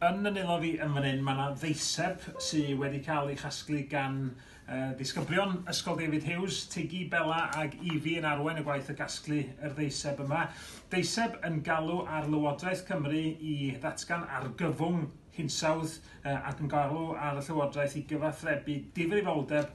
Yn fy nwylo fi yn fan hyn mae 'na ddeiseb sy wedi cael ei chasglu gan uh, ddisgyblion Ysgol David Hughes, Tigi, Bella ag Evie yn arwain y gwaith o gasglu yr ddeiseb yma. Deiseb yn galw ar Lywodraeth Cymru i ddatgan argyfwng hinsawdd uh, ac yn galw ar y Llywodraeth i gyfathrebu difrifoldeb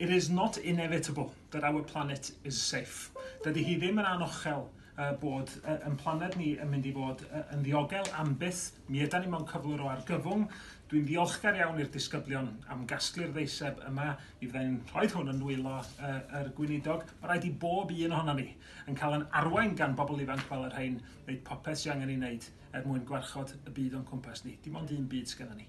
It is not inevitable that our planet is safe. Dydy hi ddim yn anochel bod yn planed ni yn mynd i fod yn ddiogel am byth. Mi ydan ni mewn cyflwr o argyfwng. Dwi'n ddiolchgar iawn i'r disgyblion am gasglu'r ddeiseb yma. Mi fydda i'n rhoi hwn yn nwylo yr gweinidog. Mae rhaid i bob un ohono ni yn cael yn arwain gan bobl ifanc fel yr rhain wneud popeth sy'n angen ei wneud er mwyn gwarchod y byd o'n cwmpas ni. Dim ond un byd sgynnon ni.